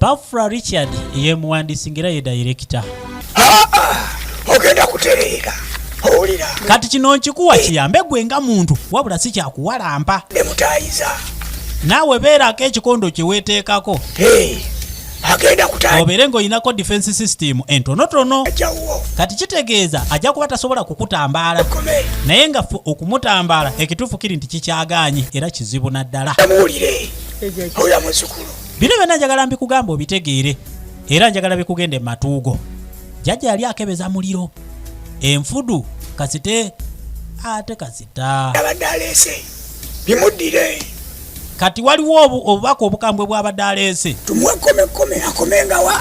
Pafra Richard ye muwandiisi ng'era ye dayirekita. Ah, ah, ogenda kutereera owulira. Kati kino nkikuwa kiyambe gwe nga muntu wabula si kyakuwalampa. Ne mutayiza. Naawe beerako ekikondo kye weeteekako. agenda kutandika obeere ng'olinako defense system entonotono kati kitegeeza ajja kuba tasobola kukutambaala naye nga ffe okumutambaala ekituufu kiri nti kikyagaanye era kizibu naddala oyo muzukulu bino byonna njagala mbikugamba obitegeere era njagala bikugenda ematuugo jjajja yali akebeza muliro enfudu kasite ate kasita abadde aleese bimuddire kati waliwo obubaka obukambwe bwabadde aleese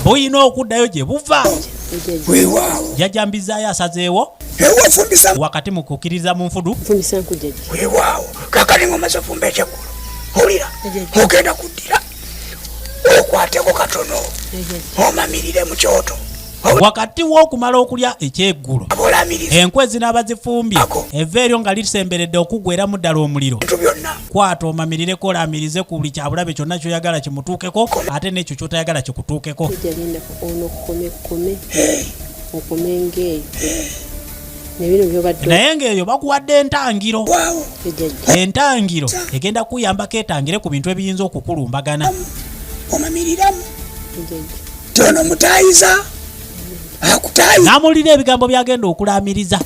bulina okuddayo gye buva jajambizaayo asazeewo wakati mu kukkiriza mu nfudu olira mugenda kuddira okwateko katono omamirire mu kyoto wakati w'okumala okulya ekyeggulo enkwe zinaaba zifumbye eva eryo nga lisemberedde okuggweramu ddala omuliro kwata omamirireko olaamirize ku buli kyabulabe kyonna kyoyagala kimutuukeko ate n'ekyo kyotayagala kikutuukeko naye ngaeyo bakuwadde entangiro entangiro egenda kuyambako etangire ku bintu ebiyinza okukulumbagana omamiriramu tono mutayiza namulira ebigambo byagenda okulamiriza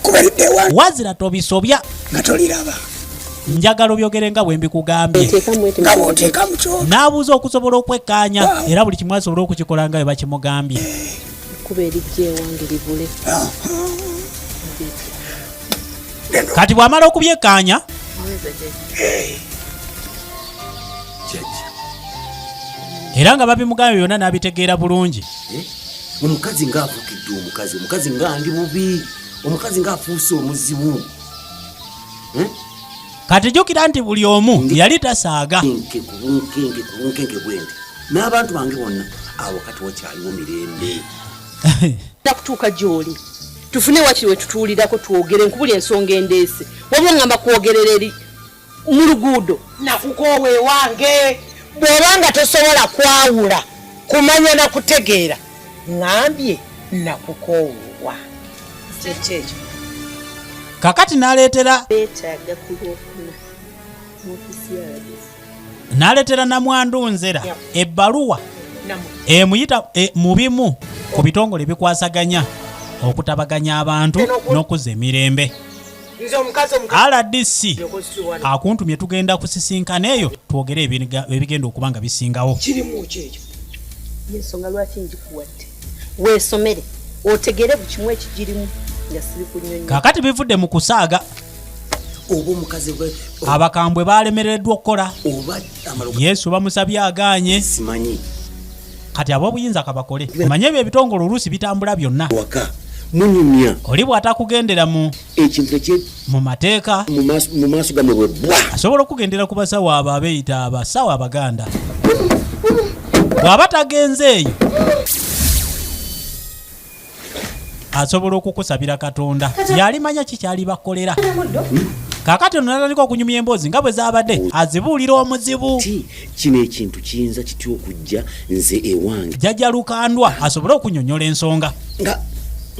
wazira tobisobya nga toliraba njagala obyogere nga bwe mbikugambye n'abuuza okusobola okwekkaanya era buli kimu asobola okukikola nga bwe bakimugambye kuba erijja ewange libule kati bwamala okubyekaanya era nga babimugambye byonna n'abitegeera bulungi eh? omukazi ngaavugidde omukazi omukazi nga ndi bubi omukazi ngaafuuse omuzibu eh? kati jukira nti buli omu yali tasaaga n'abantu bange bonna awo kati wakyaliwo mirembe nakutuuka gyoli tufune wakiri wetutuulirako twogere nkubuli ensonga endeese wabula ngamba kwogerera eri mu luguudo nakukoowa ewange bw'oba nga tosobola kwawula kumanya na kutegeera ŋambye nakukoowa kyekyo ekyo kakati naleetera beetaaga ku lwokuna naleetera namwandu nzera ebbaluwa emuyita e, mu bimu ku bitongole ebikwasaganya okutabaganya abantu n'okuzza emirembe rdc akuntumye tugenda kusisinkana eyo twogere ebigenda okuba nga bisingawo yensonga lwaki njikuwadde wesomere otegere buli kimu ekigirimu nga siri kunyonyo kakati bivudde mu kusaaga oba omukazi gwe abakambwe baalemereddwa okukola oba yesu bamusabye agaanye simanyi kati abobuyinza kabakole omanye ebyo ebitongole oluusi bitambula byonna waka munyumya oli bwatakugendera mu ekintu ekye mu mateeka mu maaso- mu maaso gamwe bwe bwa asobola okugendera ku basawo abo abeyita abasawo abaganda bw'aba tagenze eyo asobola okukusabira katonda yalimanya kikyali bakolera kakati ono natandika okunyumya emboozi nga bwe zabadde azibuulira omuzibu kino ekintu kiyinza kitya okujja nze ewange jajja lukandwa asobole okunyonyola ensonga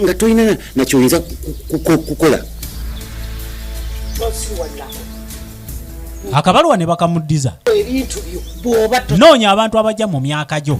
nga tolina nakyoyinza kukola akabaluwa ne bakamuddiza noonya abantu abajja mu myaka gyo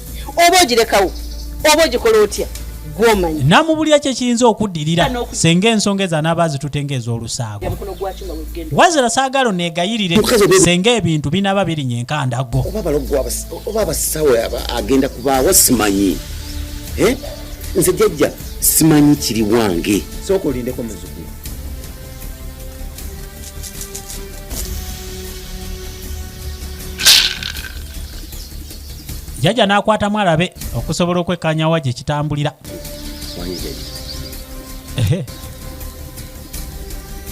oba ogirekawo oba ogikola otya gwomanyi namubulira kyekiyinza okuddirira senga ensonga ezo anaaba azitute ngaez'olusaago wazira saagala onegayirire senga ebintu binaaba birinya enkandago oba abasawo agenda kubaawo simanyi eh? nze jajja simanyi kiri wange sooka olindeko muzukulu jjajja n'akwatamu alabe okusobola okwekkanyawa gye kitambulira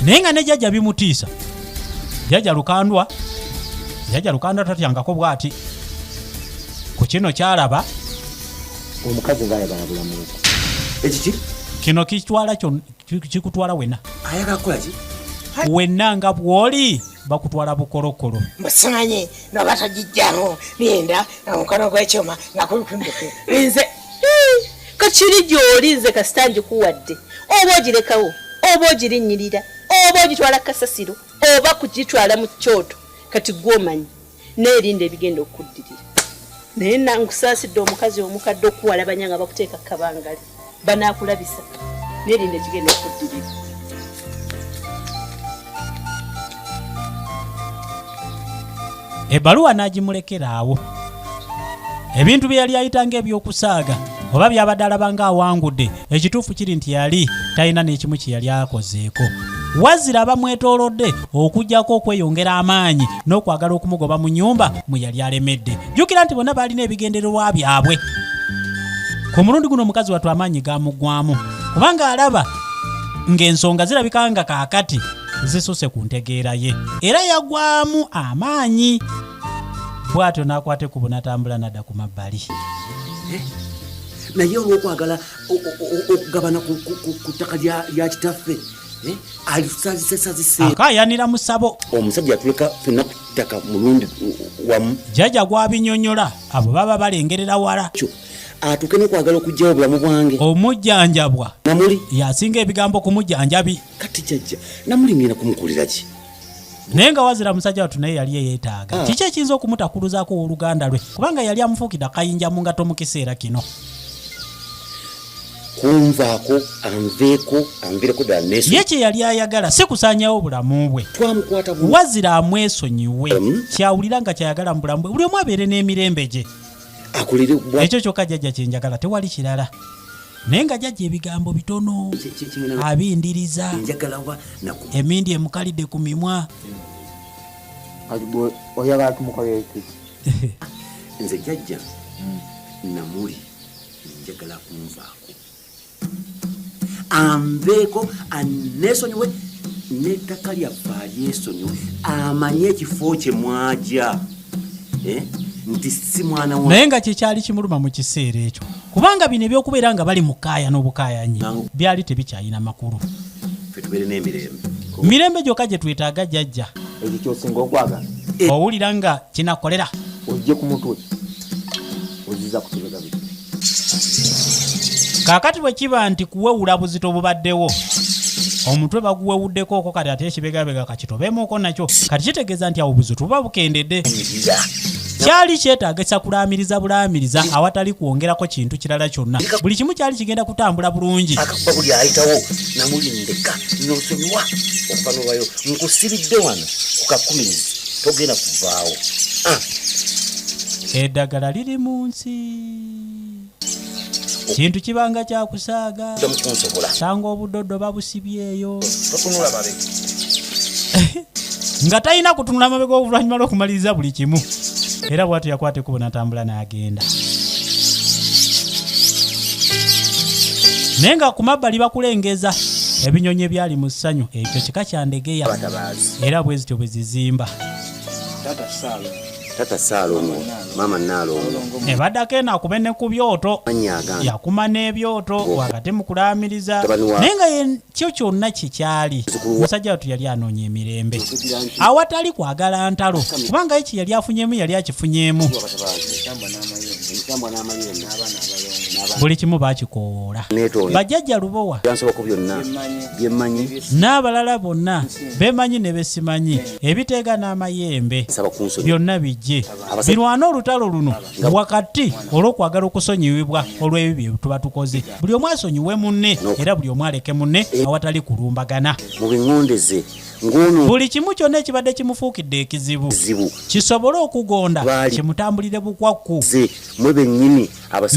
naye nga ne jjajja bimutiisa jjajja lukandwa jjajja lukandwa tatyangako bwati ku kino kyalaba omukazi nga ayagala bulamu ekiki kino kitwala kikutwala wena ayagala kukolaki wenna nga bw'oli bakutwala bukolokolo mbasanye nga batagijjamu linda nga mukono gw'ekyuma nga kumpimbuke nze kakiri gy'oli nze kasita ngikuwadde oba ogirekawo oba ogirinnyirira oba ogitwala kasasiro oba kugitwala mu kyoto kati gwomanyi naye erinda ebigenda okukuddirira naye nangusaasidde omukazi omukadde okuwalabanya nga bakuteeka kabangali banaakulabisa naye linda ekigenda okuddirira ebbaluwa n'agimulekeraawo ebintu bye yali ayita ng'eby'okusaaga oba byabadde alaba ng'awangudde ekituufu kiri nti yali talina n'ekimu kye yali akozeeko wazira bamwetoolodde okujjako okweyongera amaanyi n'okwagala okumugoba mu nyumba mwe yali alemedde jjukira nti bonna baalina ebigendererwa byabwe ku mulundi guno omukazi wattu amaanyi gamuggwamu kubanga alaba ng'ensonga zirabika nga kaakati zisuse ku ntegeera ye era yagwamu amaanyi bwatyo n'akwate ku bunatambula nadda ku mabbali eh, naye olwokwagala okugabana ku ttaka lya kitaffe Eh, alisazisesazise akayanira musabo omusajja atuleka fenna kutaka mulundi wamu jaja gwabinyonyola abo baba balengerera wala atuke nokwagala okugyawo obulamu bwange omujjanjabwa namuli yasinga ebigambo ku mujjanjabi kati jaja namuli ngenda kumukuliraki naye nga wazira musajja watu naye yali eyetaaga hmm. kiki ekiyinza okumutakuluzaako owoluganda lwe kubanga yali amufuukidde akayinja mu ngato mu kiseera kino kunvaako anveeko anvireko ddala nesu ye kye yali ayagala si kusanyawo bulamu bwe twamukwata wazira amwesonyiwe kyawulira nga kyayagala mu bulamu bwe buli omu abeere n'emirembe gye akulire ekyo kyokka jajja kyenjagala tewali kirala naye nga jajja ebigambo bitono abindiriza emindi emukalidde ku mimwa oyagala tumukolereki nze jajja namuli njagala kunvaako anveeko anneesonyiwe n'ettaka lyaffe alyesonyiwe amanye ekifo kye mwaja eh? nti si mwana wa naye nga kyekyali kimuluma mu kiseera ekyo kubanga bino ebyokubeera nga bali mukaaya n'obukaayanyi byali tebikyalina makulu fetubeere n'emirembe mirembe gyokka gye twetaaga jajja ekyo kyosinga okwagala owulira nga kinakolera ojje ku mutwe oziza kutubega biki kakati bwe kiba nti kuwewula buzito bubaddewo omutwe baguwewuddeko oko kati ate ekibegabega kakitobemuko nakyo kati kitegeeza nti awo buzito buba bukendedde kyali kyetaaga ekyakulaamiriza bulaamiriza awatali kwongerako kintu kirala kyonna buli kimu kyali kigenda kutambula bulungi akakuba buli ayitawo namulindeka nosonyiwa okuva nobayo nkusiridde wano kukakumiriza togenda kuvaawo ah. eddagala liri mu nsi kintu kibanga kyakusaaga sanga obudodo babusibyeyo nga talina kutunula amabega oluvannyuma lw'okumaliriza buli kimu era bwatyo yakwata ekubo natambula n'agenda naye nga ku mabbali bakulengeza ebinyonyi ebyali mu ssanyu ekyo kika kyandegeya era bwe zityo bwe zizimba tata saalo tata saalongo maama naalongo ebadako enakuba ne ku byoto yakuma n'ebyoto wakati mu kulaamiriza naye nga kyo kyonna kyekyali omusajja watu yali anoonya emirembe awatali kwagala ntalo kubanga eki yali afunyemu yali akifunyemu buli kimu bakikowoola bajjajja lubowa n'abalala bonna bemanyi ne besimanyi ebiteega n'amayembe byonna bijje birwane olutalo luno wakati olw'okwagala okusonyiwibwa olw'ebibyo byetuba tukoze buli omu asonyiwe munne era buli omu aleke munne eh. awatali kulumbagana buli kimu kyonna ekibadde kimufuukidde ekizibu kisobole okugonda kimutambulire bukwakku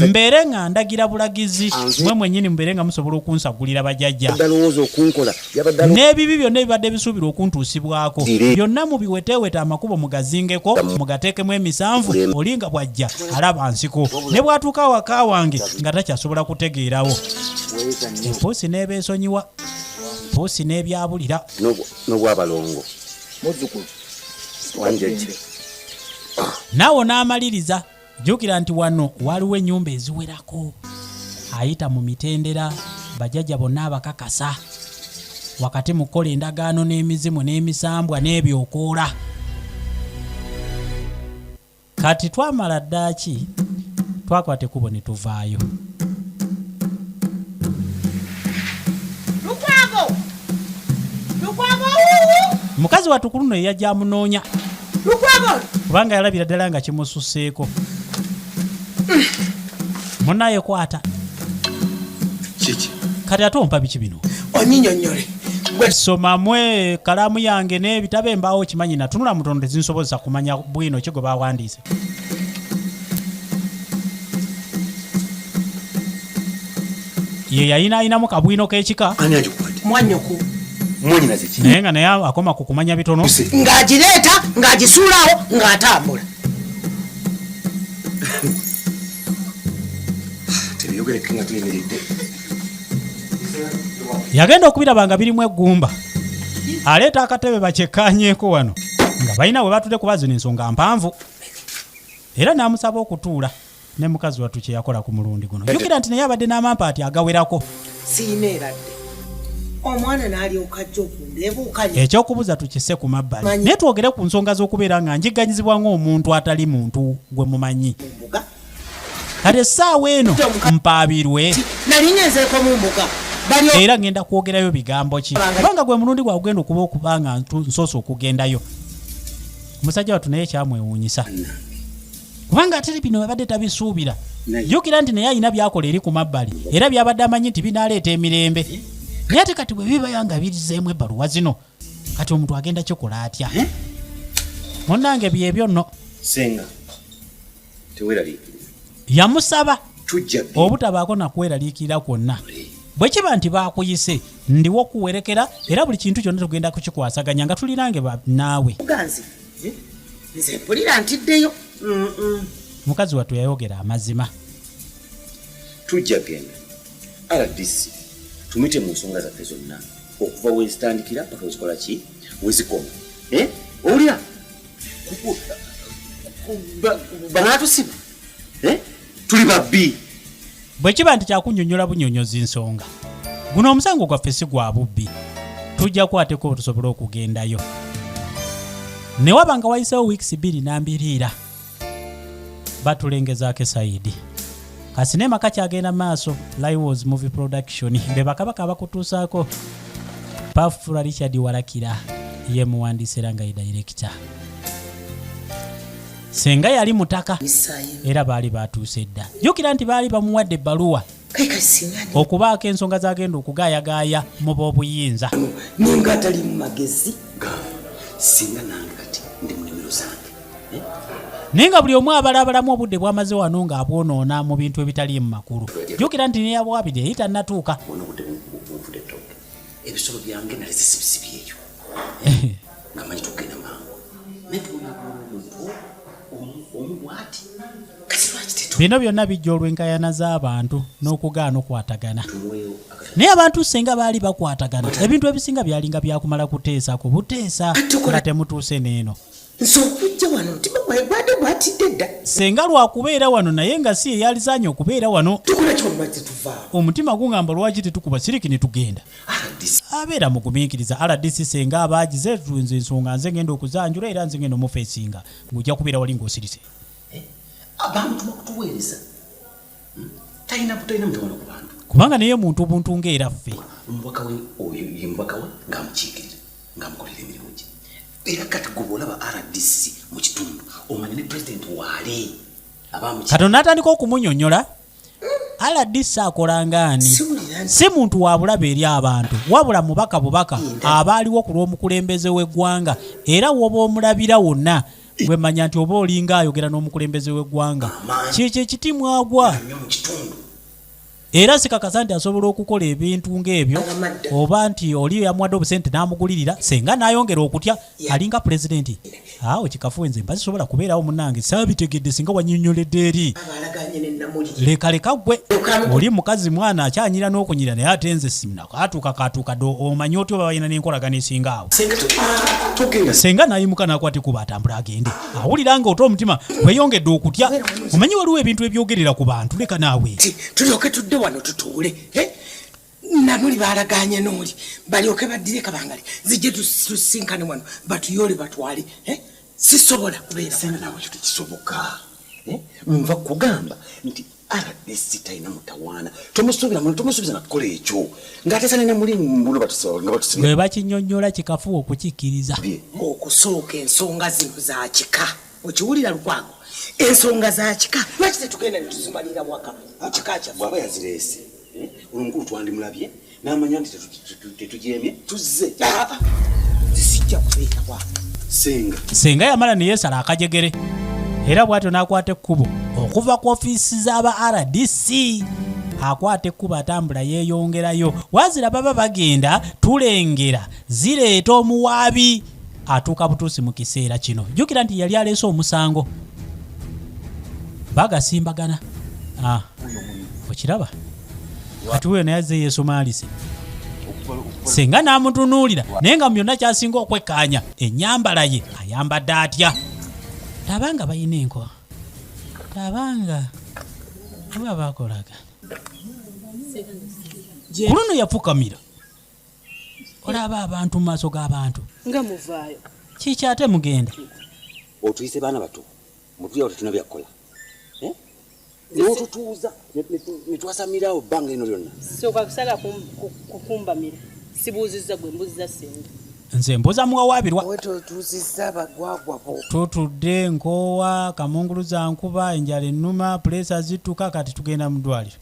mbeere nga ndagira bulagizi mwe mwenyini mubeere nga musobola okunsagulira bajajja n'ebibi byonna ebibadde bisuubirwa okuntuusibwako byonna mubiweteeweta amakubo mugazingeko mugateekemu emisanvu oli nga bwajja alaba nsiko ne bwatuuka awaka wange nga takyasobola kutegeerawo empuusi n'ebeesonyiwa mpuusi n'ebyabulira n'obwabalongo muzzukulu naawe n'amaliriza jjukira nti wano waliwo ennyumba eziwerako ayita mu mitendera bajajja bonna abakakasa wakati mu kukola endagaano n'emizimu n'emisambwa n'ebyokoola kati twamala ddaaki twakwata ekubo ne tuvaayo mukazi watukuluno eyajamunoonya kubanga yalabira ddala nga kimususeeko munaye kwata kati ate ompa biki bino onyinyonyole somamu ekalamu yange n'ebitabo embaawo kimanyi natunula mutono tezinsobozesa kumanya bwino ki gwe bawandiise ye yayinaayinamu kabwino k'ekika naye nga naye akoma ku kumanya bitono ng'agireeta ng'agisuulawo ng'atambula yagenda okubiraba nga birimu eggumba aleeta akatebe bakyekkaanyeeko wano nga balina we batudde kuba zino ensonga mpanvu era n'amusaba okutuula ne mukazi wattu kye yakola ku mulundi guno jjukira nti naye abadde n'amampaati agawerako siina eradde omwana nalyoka ajja okundebuukanya ekyokubuza tukise ku mabbali naye twogere ku nsonga z'okubeera nga njiganyizibwa ng'omuntu atali muntu gwe mumanyi kati essaawa eno mpaabirwe nali ngenzeeko mu mbuga era ngenda kwogerayo bigambo ki kubanga gwe mulundi gwagugenda okuba okuba nga nsoose okugendayo omusajja watu naye kyamwewuunyisa kubanga ate bino abadde tabisuubira jukira nti naye alina byakola eri ku mabbali era byabadde amanyi nti binaaleeta emirembe eh? naye ate kati bwe bibaya nga birizeemu ebbaluwa zino kati omuntu agenda kikola atya eh? munange byebyo nno senga teweraliikiriza yamusaba obutabaako nakweraliikirira kwonna bwe kiba nti bakuyise ndiwo okuwerekera era buli kintu kyonna tugenda kukikwasaganya nga tulirange naawe Eh, nze mpulira ntiddeyo mukazi wattu yayogera amazima tujja genda rdc tumite mu nsonga zaffe zonna okuva wezitandikira paka wezikola ki wezikoma eh, owulira banatusiba eh? tuli babbi bwe kiba nti kyakunyonyola bunyonyozi nsonga guno omusango gwaffe si gwa bubbi tujja kwateko otusobole okugendayo ne waba nga wayisewo wiikisi bbiri nambiriira batulengezaako esayidi kasinema kakyagenda maaso liwos movie production be bakabaka abakutuusaako pafula richard walakira ye muwandiisi era nga ye dayirekita senga yali mutaka era baali batuuse edda jukira nti baali bamuwadde ebbaluwa okubaako ensonga zagenda okugaayagaaya mu b'obuyinza ninga atali mu magezi singa nange kati ndi munimiro zange eh? naye nga buli omu abala abalamu obudde bwamaze wano nga abwonoona mu bintu ebitali mu makulu jukira nti neyabwabiri eyitanatuuka ebisolo byange nali zisibisibyeyo nga manyi tugenda mangu naye tubona omuntu omu bwati kasi lwaki tetu bino byonna bijja olw'enkayana z'abantu n'okugaana okwatagana naye abantu singa baali bakwatagana ebintu ebisinga byalinga byakumala kuteesa ku buteesa nga temutuuse n'eno nze okujja wano mutima gwaye gwade gwatidde dda senga lwakubeera wano naye nga si eyalizaanye okubeera wano tukola kyolwazze tuvaawo omutima gungamba lwaki tetukuba siriki ne tugenda abeera mugumiikiriza rdc senga abaagize nze ensonga nze ngenda okuzanjula era nze ngenda omufeesinga ng'ojja kubeera wali ng'osirise eh, abamutuma kutuweereza talina talina mutawano ku bantu kubanga naye muntu obuntu nga era ffe omubaka we oyo ye mubaka we ng'amukiikirira ng'amukolera emirimu gye era kati gwe bw'olaba rdc mu kitundu omanya ne pulezidenti waali kati onatandika okumunyonyola rdc akolangaani si muntu wabulaba eri abantu wabula mubaka bubaka abaaliwo ku lw'omukulembeze w'eggwanga era woba omulabira wonna gwe manya nti oba olinga ayogera n'omukulembeze w'eggwanga kyekyo ekiti mwagwa era sikakasa nti asobola okukola ebintu ng'ebyo oba nti oli yamuwadde obusente n'amugulirira senga n'ayongera okutya alinga pulezidenti awo kikafuwe nze mba sisobola kubeerawo munange saabitegedde singa wanyonyoledde eri lekaleka gwe oli mukazi mwana akyanyira n'okunyira naye ate nze simna Kaatuuka kaatuuka dda omanya otya oba balina n'enkolagana esinga awo. Senga n'ayimuka n'akwata ekuba atambula agende. Awulira nga ota omutima gweyongedde okutya. Omanyi waliwo ebintu ebyogerera ku bantu leka naawe. Tulyoke tudde wano tutuule. Eh? Namuli baalagaanye n'oli balyoke baddire kabangali zijje tusinkane wano batuyoole batwale. Eh? Sisobola kubeera. Senga naawe ekyo tekisoboka. Eh? Nva kugamba nti rdc talina mutawaana tomusuubira muna tomusuubiza nakukola ekyo ng'ateesa nina muli mbuno batusiwe bakinyonyola kikafuwa okukikkiriza okusooka ensonga zino za kika okiwulira lukwago ensonga za kika lwaki tetugenda netuzimalira waka mu kika kyaffe aba yazireese eh? olwo mukulu twandimulabye n'amanya nti tetujeemye tuzze sijja kubeera kwa senga senga yamala ne yeesala akajegere era bw'atyo n'akwata ekkubo okuva ku ofiisi z'aba rdc akwata ekkubo atambula yeeyongerayo wazira baba bagenda tulengera zireeta omuwaabi atuuka butuusi mu kiseera kino jjukira nti yali aleese omusango bagasimbagana ah, okiraba kati wuyo naye azze yeesumaalise singa n'amutunuulira naye nga mu byonna kyasinga okwekkaanya ennyambala ye ayambadde atya taba nga balina enkoa taba nga oba bakolaga ku luno yafukamira olaba abantu mu maaso g'abantu nga muvaayo kiki ate mugenda otuyise baana bato mutuyawo tetuna byakukola eh? notutuuza netwasamirawo bbanga eno lyonna soka kusala kukumbamira sibuuzizza gwe mbuzizza senga nze mbuza muwawabirwa tutudde nkoowa kamunguluza nkuba enjala ennuma puleesa zittuka kati tugenda mu ddwaliro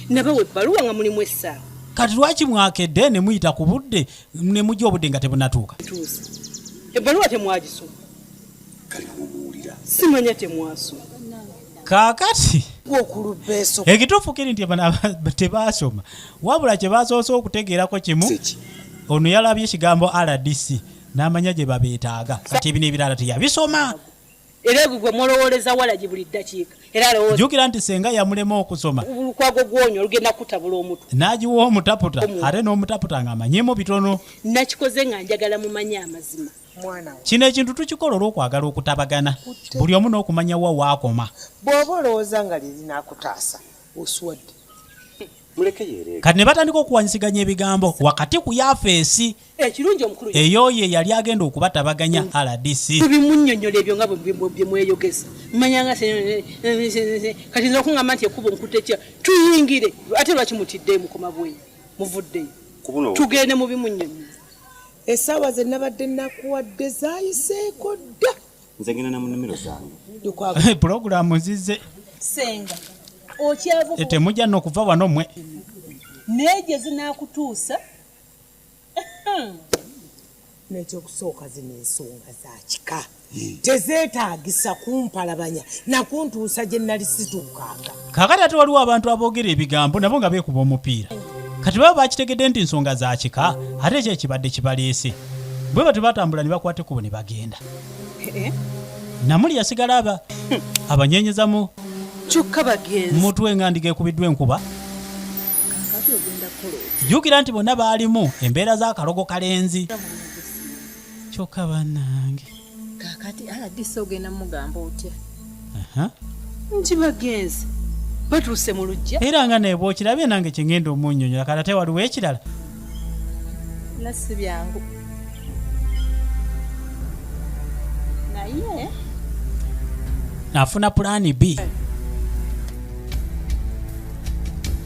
nabawa ebbaluwa nga mulimu essaawa kati lwaki mwakedde ne muyita ku budde ne mujja obudde nga tebunatuuka ebbaluwa temwagisoma simanya temwasoma kaakati ekituufu kiri nti tebaasoma wabula kye basoose okutegeerako kimu ono yalabye ekigambo rdc n'amanya gye babeetaaga kati ebino ebirala teyabisoma era egwe gwe mulowooleza walagi buli ddakiika era alowooza jjukira nti senga yamulema okusoma lukwago gwonyo olugenda kutabula omutu n'agiwa omutaputa ate n'omutaputa ng'amanyimu bitono nakikoze nga njagala mumanye amazima kino ekintu tukikola olw'okwagala okutabagana buli omu n'okumanya wa waakoma bw'oba olowooza nga lye linakutaasa oswadde Kati ne batandika okuwanyisiganya ebigambo wakati ku yafeesi eh, eyooyo eyali agenda okubatabaganya mm. rdc bimunyonyola ebyo nga byemweyogeza manyanga kati nza okungamba nti ekubo nkutekya tuyingire ate lwaki mutiddeyo mukoma bweyi muvuddeyo tugende mu bimunyonyola esaawa zenabadde nakuwadde zayiseeko dda nze genda na munimiro zange eh, pulogulaamu zize senga okyavu eh, temujja nokuva wano mwe naye gye zinakutuusa nekyokusooka zino ensonga zakika hmm. tezeetagisa kumpalabanya nakuntuusa gye nali situukanga kaakati ate waliwo abantu aboogera ebigambo nabo nga beekuba omupiira kati baba bakitegedde nti nsonga za kika ate ekyo ekibadde kibaleese bwe batyo batambula ne bakwata ekkubo ne bagenda eh? namuli yasigala aba abanyeenyezamu kyokka bagenzi mutwe nga ndiga ekubiddwa enkuba jjukira nti bonna baalimu embeera z'akalogo kalenzi kyoka banange kakati aladisi ogenda mugamba otya nti bagenzi batuuse mu lujja era nga nebwe okirabye nange kyengenda omunyonyola kati ate waliwo ekirala nasi byangu naye nafuna pulaani b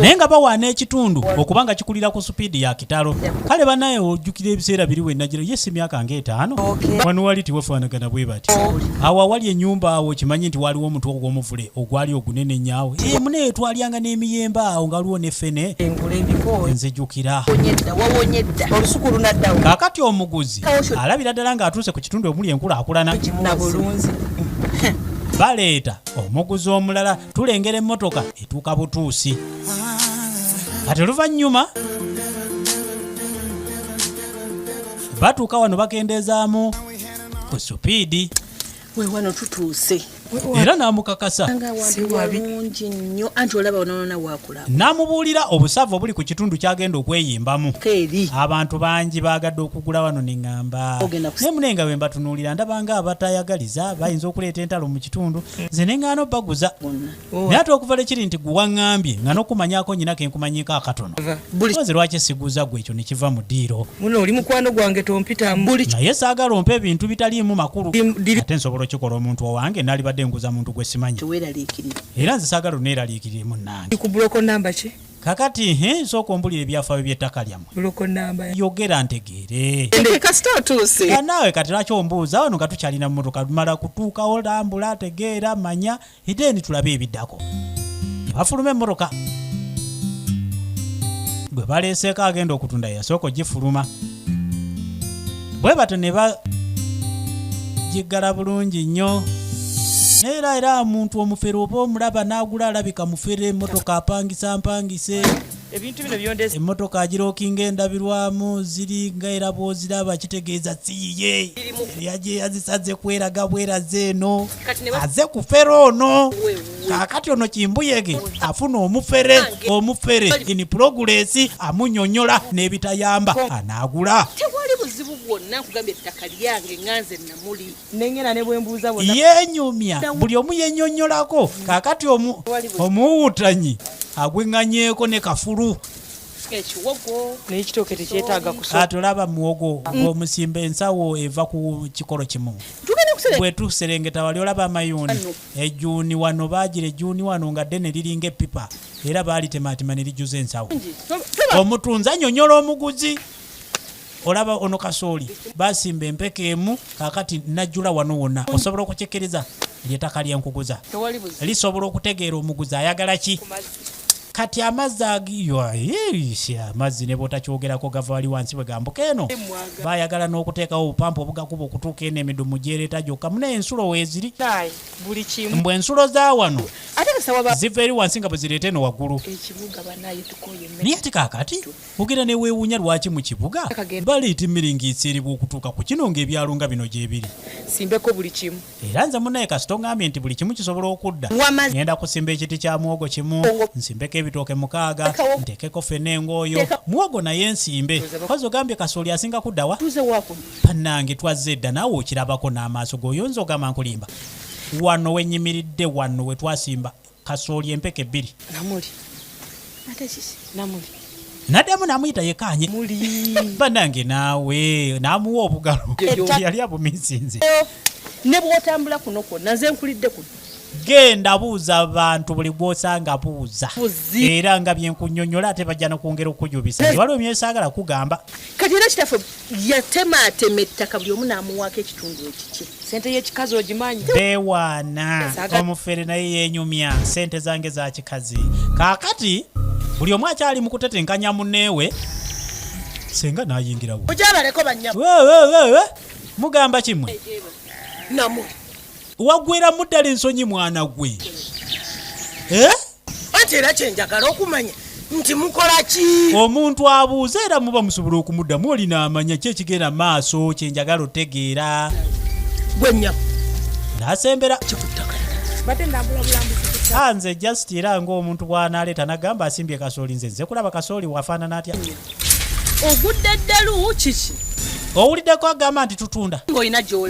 naye nga bawaana ekitundu okuba nga kikulira ku supiidi ya kitalo kale banaye ojjukira ebiseera biri wenajira ye simyaka nga etaano wano wali tiwafaanagana bwe bati awo awali enyumba awo kimanyi nti waliwo omutu ogwomuvule ogwali ogunene nyawe eh, munaye twalyanga n'emiyembe awo nga waliwo nefene nzijukira kakati omuguzi alabira ddala nga atuuse ku kitundu omuli enkula akulana baleeta omuguzi omulala tulengera emmotoka etuuka butuusi kati oluvannyuma batuuka wano bakendeezaamu ku supiidi wewano tutuuse era namukakasa siwabi nyo anti olaba ononona wakula n'amubuulira obusava obuli ku kitundu ky'agenda okweyimbamu abantu bangi baagadde okugula wano ne ŋŋamba naye mune nga bwe mbatunuulira ndabanga abatayagaliza bayinza okuleeta entalo mu kitundu hmm. nze ne ŋŋaana obaguza oh. naye ate okuva le kiri nti guwaŋŋambye nga n'okumanyako nyina ke nkumanyiiko akatono ozi lwaki siguza gwe ekyo ne kiva mu ddiiro naye saagala ompa ebintu bitaliimu makulu ate nsobola okikola omuntu owange naalibadde nguza muntu gwe simanyi era nze saagala oneeraliikirire munnange ku buloko namba ki kakati he nsooka ombulira ebyafaayo by'ettaka lyammwe buloko namba yogera ntegeere kasita otuuse Era naawe kati lwaki ombuuza wano nga tukyalina mu motoka mala kutuukawo lambula tegeera manya edeeni tulabe ebiddako ne bafuluma emmotoka gwe baleeseeko agenda okutunda yasooka ogifuluma bwe batyo ne bagiggala bulungi nnyo neera era omuntu omufere oba omulaba n'agula alabika mufere emmotoka apangisa mpangise ebintu bino byondeza emmotoka agirokinga endabirwamu ziri nga era bwoziraba kitegeeza siyiye eyaje yazisaze kweraga bweraze eno aze kufera ono kakati ono kimbuyege afuna omufere omufere ini pulogulesi amunyonyola n'ebitayamba anaagula tewali buzibu bwonna nkugambye ettaka lyange nganze namuli nengena ne bwembuuza yenyumya buli omu yenyonyolako kakati omuwutanyi agweŋŋanyeeko ne kafulu ekiwogo naye kitooke tekyetaaga kusa tulaba muwogo mm. gwomusimba ensawo eva ku kikolo kimu bwetuserengeta wali olaba amayuuni Ejjuuni wano baagira ejjuuni wano nga ddene liringa eppipa era baalitemaatema ne lijjuza ensawo. Omutunzi annyonnyola omuguzi. Olaba ono kasooli baasimba empeke emu kaakati najjula wano wonna. Osobola okukikiriza? Ly'ettaka lye nkuguza. Lisobola okutegeera omuguzi ayagala ki? kati amazzi amazzi ne bwotakyogerako gava wali wansi bwe gambuka eno bayagala n'okuteekawo obupampa obugakuba okutuuka eno emidumu gyereeta gyokka munaye ensulo weeziri mbu ensulo za wano ziva eri wansi nga bwe zireeta eno waggulu naye ati kaakati ogenda neweewuunya lwaki mu kibuga baleeta emiringiitsiiribwa okutuuka ku kino ng'ebyalo nga bino gyebiri era nze munaye kasita ongambye nti buli kimu kisobola okudda ngenda kusimba ekiti kya muwogo kimu nsimbeko ebitooke mukaaga ntekeko fena engooyo muwogo naye nsimbe kozi ogambye kasooli asinga kuddawa banange twazze edda naawe okirabako n'amaaso goyonza ogamba nkulimba wano wenyimiridde wano wetwasimba kasooli empeke bbiri namuli ate kiki namuli naddamu namuyita yekaanye banange naawe namuwa obugalo yali abumisinze ne bwotambula kuno kwonna nze nkulidde kuno genda buuza abantu buli gwosanga buuza era nga byenkunyonyola ate bajja nokwongera okujubisa waliwo myesaagala kugamba kati era kitaffe yatemaatema ettaka buli omu n'amuwaako ekitundu ekikye sente yekikazi ogimanyi bewaana omufere naye yenyumya sente zange za kikazi kakati buli omu akyali mu kutetenkanya muneewe senga nayingirawo ojabaleko banya mugamba kimwe namu wagweramu ddala ensonyi mwana gwe eh? anti era kyenjagala okumanya nti mukola ki omuntu abuuza era muba musobola okumuddamu olina amanya ki ekigenda maaso kyenjagala otegeera gwenya nasembera kikuttaka nze just era ngaomuntu bwanaleeta nagamba asimbye kasooli nze nze kulaba kasooli wafaanana atya ogudde ddalu kiki owuliddeko agamba nti tutunda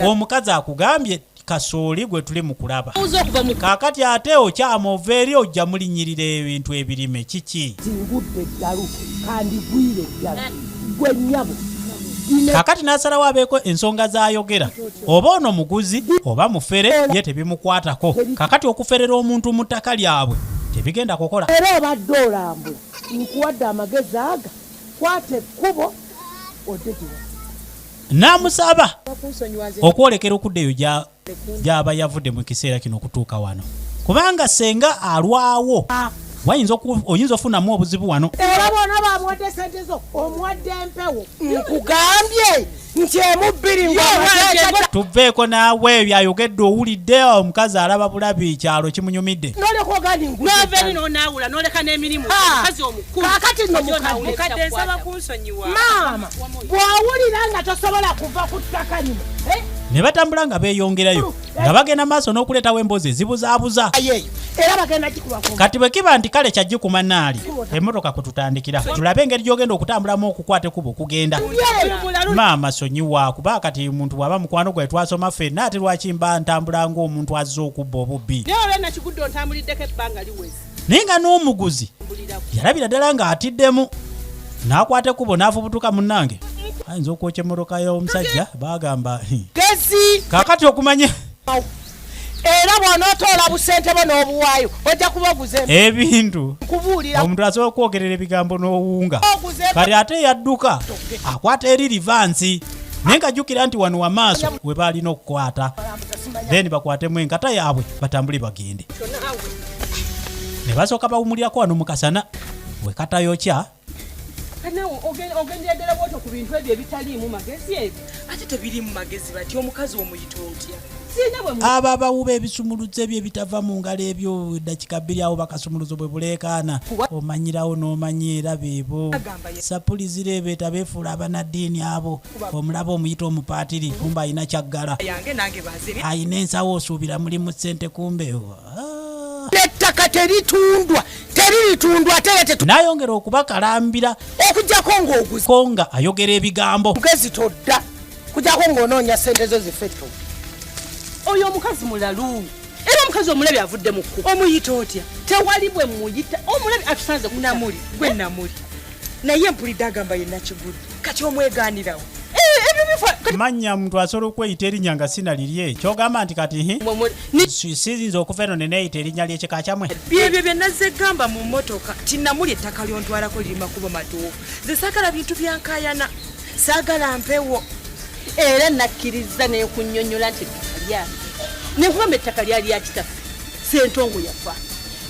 omukazi akugambye kasooli gwe tuli mu kulaba kaakati ate okyama ova eri ojja mulinyirira ebintu ebirime kiki zingudde eddalu kandigwire eddala gwe nyabo kakati n'asalawo abeeko ensonga z'ayogera oba ono muguzi oba mufere ye tebimukwatako kakati okuferera omuntu mu ttaka lyabwe tebigenda kukola era obadde olambula nkuwadde amagezi aga kwata ekkubo odde giwa n'amusaba okwolekera okudda eyo gy'aba yavudde mu kiseera kino okutuuka wano kubanga senga alwawo wayinza oyinza ofunamu obuzibu wano era bona bamuwadde sente zo omuwadde empewo nkugambye nti emubbiri tuveeko naawe ebyo ayogedde owulidde omukazi alaba bulabi kyalo kimunyumidde nolekoganinonaawula noleka n'emirimu kakati nomukadde nsaba maama bw'owulira nga tosobola kuva ku ttaka lino eh? ne batambula nga beeyongerayo nga bagenda maaso n'okuleetawo emboozi ezibuzaabuza kati bwe kiba nti kale kyajji ku manaali emmotoka kwe tutandikira tulabe engeri gy'ogenda okutambulamu okukwata ekuba okugenda maama sonyiwa kuba kati omuntu bw'aba mukwano gwe twasoma ffenna ate lwaki mba ntambula ng'omuntu azze okubba obubbi naye nga n'omuguzi yalabira ddala ng'atiddemu n'akwata ekkubo n'afubutuka munnange ayinza okwokya emmotoka y'omusajja baagamba kakati okumanya era bw'onootoola busente bo n'obuwaayo ojja kuba oguze ebintu kubuulira omuntu asobola okwogerera ebigambo n'owuunga kati ate yadduka akwata eri livansi naye nga jjukira nti wano wamaaso we baalina okukwata then bakwatemu enkata yaabwe batambule bagende ne basooka bawumulirako wano mu kasana we katayokya kanawe ogendera ddala bwoto ku bintu ebyo ebitaliimu magezi ebyo ate tebiriimu magezi bati omukazi omuyita otya abo abawuba ebisumuluzo ebyo ebitava mu ngalo ebyo eddakika bbiri awo bakasumuluzo bwe buleekaana omanyirawo n'omanya era beebo sapulizira ebeeta beefuula abanaddiini abo omulaba omuyita omupaatiri kumba alina kyaggala alina ensawo osuubira mulimu ssente kumbe ettaka teritundwa teriritundwa ate era tetu nayongera okubakalambira okujjako ng'oguzi ko nga ayogera ebigambo mugezi todda kujjako ng'onoonya ssente zo zifetto oyo omukazi mulalu era omukazi omulabi avudde mu kkubo omuyita otya tewali bwe muyita omulabi atusanze kunamuli gwe namuli naye mpulidde agamba ye nakigulu kati omweganirawo eh, manya muntu asobola okweyita erinya nga sina lirye kyogamba nti kati sizinza okuva eno neneyita erinya lyekika kyamwe byebyo byenazze gamba mu motoka tinamuli ettaka lyontwalako liri makubo matuufu zesagala bintu byankayana sagala mpewo era nakkiriza nekunyonyola nti ettaka lyange nekubamba ettaka lyali yakitaffe sentongo yafa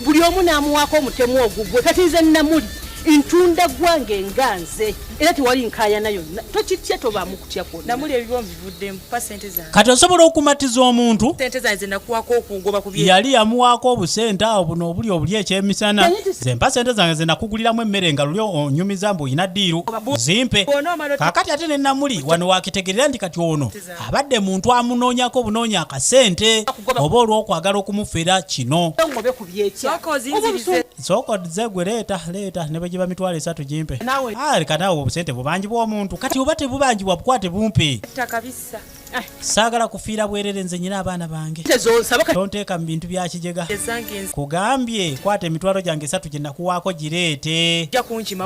buli omu n'amuwaako omutemu ogugwe kati nze namuli ntunda gwange nga nze era tewali nkayana yonna tokitya tobaamu kutya kwonamuli ebibo mbivuddemu pa sente zange kati osobola okumatiza omuntu sente zange zenakuwaako okungoba ku yali yamuwaako obusente awo buno obuli obuli ekyemisana zempa sente zange zenakuguliramu emmere nga luli onyumiza mbu olina diiru zimpe kakati ate nenamuli wano wakitegerera nti kati ono abadde muntu amunoonyako obunoonya akasente oba olw'okwagala okumufera kino sokodze gwe leeta leeta ne bwe giba mitwalo esatu gimpe ah, leka naawe obusente bubangi bw'omuntu kati oba tebubanjibwa bukwate bumpe eh. saagala kufiira bwerere nze nyina abaana bange tonteeka mu bintu bya kijega kugambye kwata emitwalo gyange esatu gye nakuwaako gireete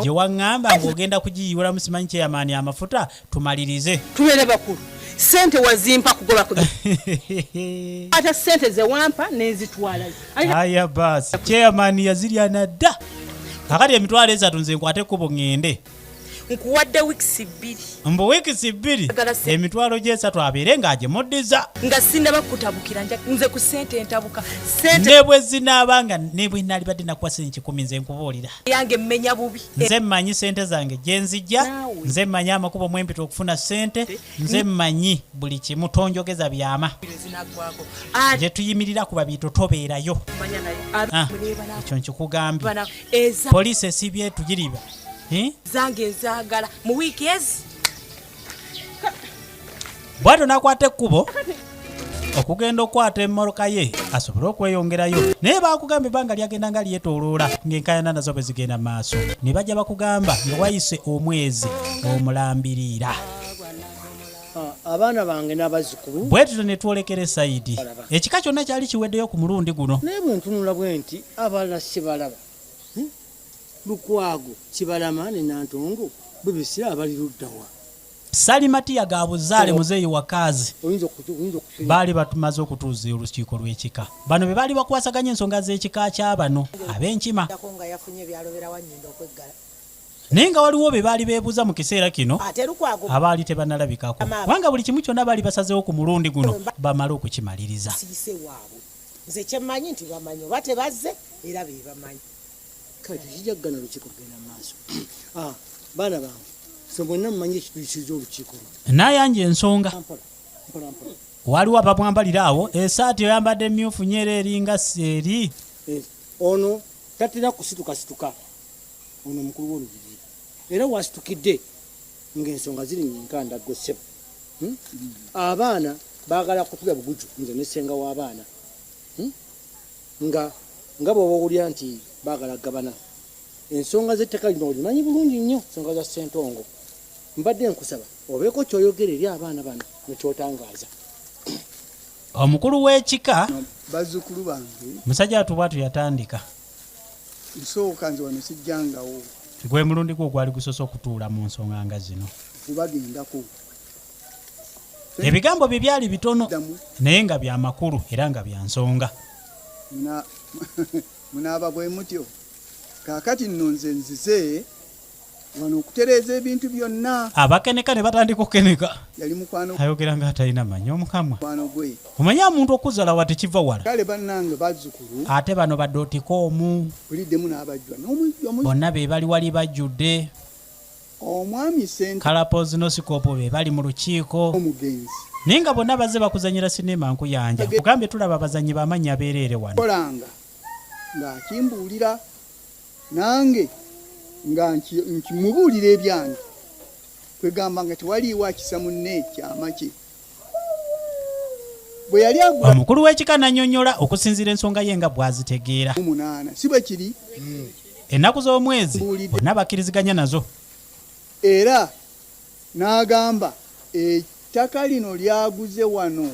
gye waŋŋamba ng'ogenda kugiyiwulamu simanyi kyeyamaani amafuta tumalirize tubeere bakulu sente wazimpa kugoba ku ata sente zewampa nenzitwala aya basi chairman yazirya nadda kakati emitwalo esatu nze nkwate ekkubo ŋŋende nkuwadde wiikisi bbiri mbu wiikisi bbiri emitwalo gy'esatu abeere ng'agimuddiza nga sindaba kukutabukira nze ku ssente entabuka ne bwe zinaaba nga ne bwe naalibadde nakuwa sente kikumi nze nkubuulira yange mmenya bubi nze mmanyi sente zange gyenzijja nze mmanyi amakubo mwempita okufuna sente nze mmanyi buli kimu tonjogeza byama gyetuyimirira kuba biito tobeerayo ah, ekyo nkikugambye poliisi esibye tugiriba eh? zange nzagala mu wiiki ezi bwatyo n'akwata ekkubo okugenda okukwata emmoloka ye asobole okweyongerayo naye bakugamba ebbanga lyagenda nga lyetoloola ng'enkayana nazo bwe zigenda mu maaso ne bajja bakugamba nga wayise omwezi omulambiriira ah, abaana bange n'abazzukulu bwe tuto ne twolekera esayidi ekika kyonna kyali kiweddeyo ku mulundi guno naye bwe ntunula bwe nti abalala sibalaba Lukwago, Kibalama ne Nantongo bibisira abali ludda wa? Salimatiya ga buzaale muzeeyi wa Kaazi baali batumaze okutuuza olukiiko lw'ekika. Bano be baali bakwasaganya ensonga z'ekika kya bano ab'enkima. naye nga waliwo be baali beebuuza mu kiseera kino abaali tebanalabikako kubanga buli kimu kyonna baali basazeewo ku mulundi guno bamale okukimaliriza nze kyemmanyi nti bamanyi oba tebazze era bebamanyi kale tekijja kugana lukiiko kugenda mu maaso ah, baana bange fe mwenna mumanyi ekituisiza olukiiko luno nayanja ensonga waliwo abamwambalira awo esaati oyambadde myufu nyo era eringa seeri eh, ono tatera kusitukasituka ono mukulu wolubiri era wasitukidde ngaensonga ziri nyinkanda gosebo hmm? abaana bagala kutula buguju nze nesenga w'abaana hmm? nga nga bwoba owulira nti baagala gabana ensonga z'ettaka lino olimanyi bulungi nnyo ensonga za ssentongo mbadde nkusaba obeeko kyoyogera eri abaana bano nekyotangaaza omukulu w'ekika bazzukulu bange musajja watu bwatu yatandika nsooka nze wano sijjangawo gwe mulundi gwo ogwali gusose okutuula mu nsonga nga zino kubagendako ebigambo bye byali bitono naye nga bya makulu era nga bya nsonga munaaba bwe mutyo kaakati nno nze nzize wano okutereeza ebintu byonna abakeneka ne batandika okukeneka yali mukwano ayogera nga atalina manyi omukamwa mukwano gwe omanyi omuntu okuzala wa tekiva wala kale bannange bazzukulu ate bano badde otika omu buliddemu n'abajjwa bonna be bali wali bajjudde omwami sente kalapozi no sikopo be bali mu lukiiko omugenzi naye nga bonna bazze bakuzanyira sinema nkuyanja kugambye tulaba abazanyi bamannya beereere wano kolanga ng'akimbuulira nange nga nkimubuulira ebyange kwegamba nga tewaliiwo akisa munne kyama kye bwe yali agula omukulu w'ekika n'annyonnyola okusinziira ensonga ye nga bw'azitegeera munaana si bwe kiri hmm. ennaku z'omwezi bonna bakkiriziganya nazo era n'agamba ettaka lino lyaguze wano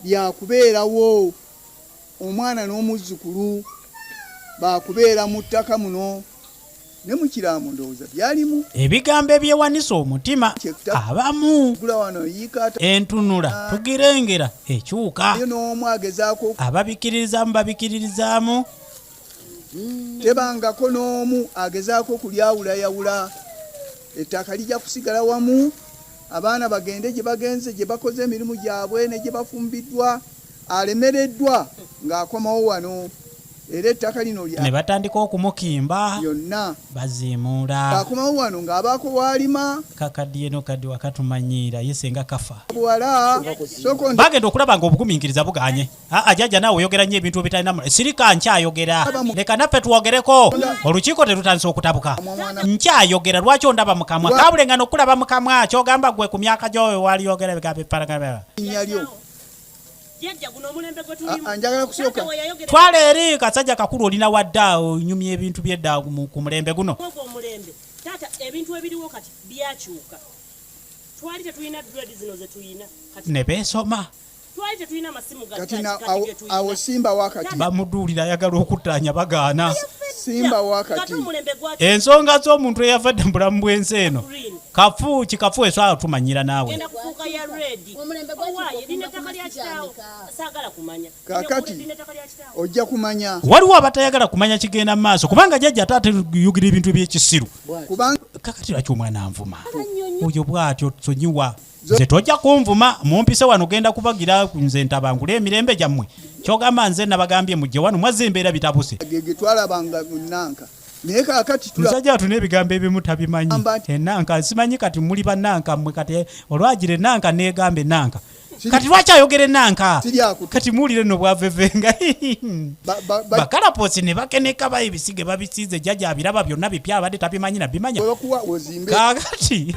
lyakubeerawo omwana n'omuzzukulu baakubeera mu ttaka muno ne mu kiraamo ndowooza byalimu ebigambo ebyewanisa omutima abamu entunula ah. tugirengera ekyuka ababikiririzaamu babikiririzaamu hmm. tebangako n'omu agezaako okulyawulayawula ettaka lijja kusigala wamu abaana bagende gye bagenze gye bakoze emirimu gyabwe ne gye bafumbiddwa alemereddwa ng'akomawo wano era ettaka lino lya ne batandika okumukimba yonna baziimuula akomawo wano ng'abaako waalima kakaddiye no kaddi wakatumanyiira ye senga kafa buwala soko nda bagenda okulaba nga obugumiikiriza buganye aa jajja naawe oyogera nnyo ebintu ebitalina mu- sirika nkyayogera leka naffe twogereko olukiiko terutandise okutabuka nkyayogera lwaki ondaba mu kamwa kabulengana okulaba mu kamwa kyogamba gwe ku myaka gyoyo waliyogera ebigambo ebiparagana linnya lyo twala eri kasajja kakulu olina wadde awo nyumya ebintu byedda ku mulembe guno taata ebintu ebiriwo kati byakyuka twali tetulina grade zino zetulina ne beesoma twali tetulina amasimu awo simba wakati bamuduulira ayagala okuttaanya bagaana simba wakati ensonga z'omuntu eyavadde mu bulamu bwensi eno kafu kikafu eswala tumanyira naawe kakati ojja kumanya waliwo abatayagala kumanya kigenda mu maaso kubanga jajja taata yugira ebintu ebyekisiru kakati lwaki omwana anvuma oyo bwatyo sonyiwa nze tojja kunvuma mumpise wano genda kubagira nze ntabangula emirembe gyammwe kyogamba nze nabagambye mujje wano mwazza embeera bitabuse twalabanga munanka naye kakati musajja watuna ebigambo ebimu tabimanyi enanka eh, simanyi kati muli bananka mwe kati eh, olwagira enanka negamba enanka kati lwaki ayogera enanka kati muwulire no bwavevenga bakalaposi ne bakeneka ba ebisige babisiize jajja abiraba byonna bipya abadde tabimanyi nabimanya kakati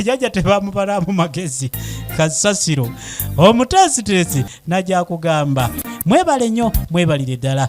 jajja tebamubalamu magezi kasasiro omuteesiteesi najakugamba mwebale nnyo mwebalire ddala